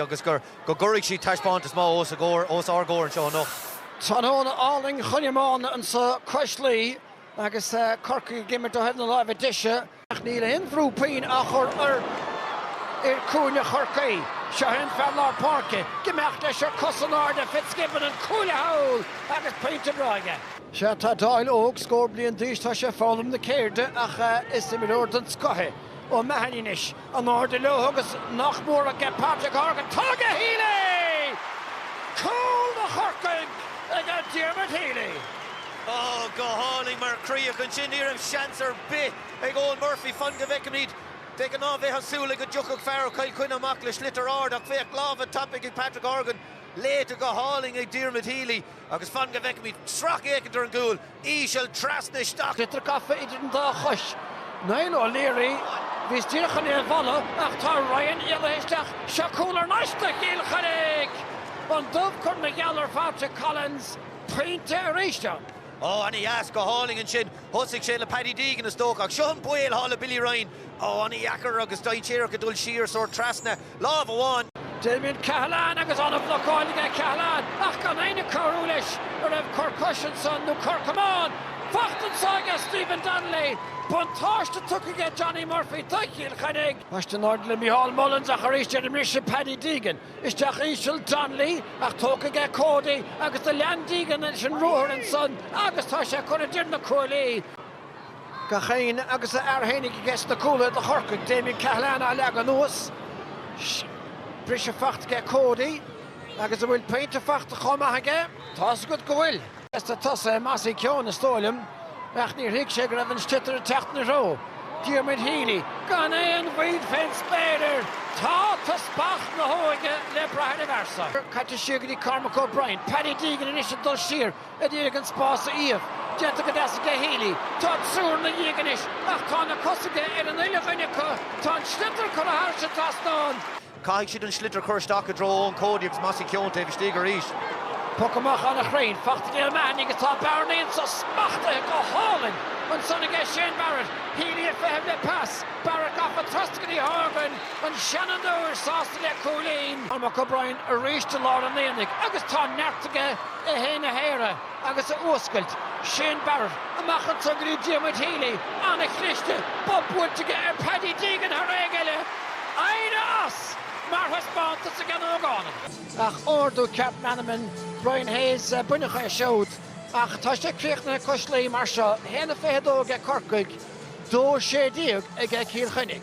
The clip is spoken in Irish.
agus gur, go gcuirfidh siad taispeántas maith os a gcomhair, os ár gcomhair anseo anocht. Tráthnóna álainn chun iomána anseo cois Laoi agus Corcaigh ag imirt ó thaobh na láimhe deise. Ach níl aon bhrú puinn á chur ar fhir cúinne Chorcaí. Seo an fear lár páirce. ag imeacht leis ar cos in airde, Fitzgibbon, an cuaille thall agus pointe breá aige. Sea, tá Dowling óg, scór bliain d'aois, tá sé ag foghlaim na ceirde ach is imreoir den scoth é O'Mahony anois. In airde leo agus nach mór ag Patrick Horgan, tá ag Healy! Cúl do Chorcaigh ag Diarmuid Healy. Oh, go hálainn mar chríoch ansin. Ní raibh seans ar bith ag Eoin Murphy fan go bhfeicfimid. De ghnáth bheifeá ag súil go dtiocfadh fear ó Chill Chainnigh amach le sliotar ard ach féach, lámha tapaidh ag Patrick Horgan, léite go hálainn ag Diarmuid Healy. Agus fan go bhfeicfimid sracfhéachaint ar an gcúl íseal trasna isteach. Sliotar gafa idir an dá chois. Niall O'Leary, bhíos díreach chun é a mholadh ach tá Ryan éalaithe isteach. Seo cúl thar n-ais do Chill Chainnigh! An dubh curtha ina gheal ar Phatrick Collins, buinte arís ann. Ó, ana dheas, go hálainn ansin. Thosaigh sé le Paddy Deegan is dócha ach seo an baol atá le Billy Ryan. Ó, ana dheacair agus dainséarach ag dul siar, sórt trasna. lámh amháin. Damien Cahalane agus an-bhlocáil aige, Cahalane ach gan éinne ag cabhrú leis. An raibh cor cois ansan nó cor camáin faighte anso aige Stephen Donnelly? Buntáiste tugtha aige Johnny Murphy do Chill Chainnigh. Baiste in airde le Micheál Mullins ach arís ar an mbriseadh Paddy Deegan. Isteach íseal Donnelly ach tógtha aige Cody agus do lean Deegan leis an ruathar ansan agus tá sé curtha idir na cuaillí. Gach éinne agus a fhear fhéinig aige sna cúlaithe do Chorcaigh, Damien Cahalane á leagadh anuas, briseadh faighte aige Cody agus an bhfuil pointe faighte chomh maith aige? Tá's agat go bhfuil. B'fhurasta tosaithe a Mossy Keoghan is dóigh liom ach níor thuig sé go raibh an sliotar ag teacht ina threo. Diarmuid Healy, gan aon mhoill fén spéir air, tá teaspach na hóige le brath ar a phearsa caite siar go dtí Cormac O'Brien, Paddy Deegan anois ag dul siar, Ag iarraidh an spás a iamh. Déanta go deas aige Healy. Tá an triúr 'na dhiaidh anois ach tá na cosa aige ar an uile dhuine acu. Tá an sliotar curtha thar an dtrasnán. Caithfidh siad an sliotar a chur isteach i dtreo Eoin Cody agus Mossy Keoghan taobh istigh arís. Poc amach ana-chruinn. Faighte ag Liam Mahony agus tá bearna anso, smachtaithe go hálainn ansan aige Shane Barrett. Healy ag feitheamh le pas. Barrett gafa trasna go dtí Horgan. An seanfhondúir sásta le cúilín. Cormac O'Brien arís i lár an aonaigh agus tá neart aige. é fhéin a shaoradh agus a fhuascailt. Shane Barrett, amach anso go dtí Diarmuid Healy, an-chliste, bob buailte aige ar Paddy Deegan thar éinne eile, airiú nach deas mar thaispeántas ag an ógánach. Ach ardú ceart meanman Brian Hayes b'in údar é siúd ach tá sé críochnaithe cois Laoi mar seo, 1-22 aige Corcaigh, 2-16 aige Cill Chainnigh.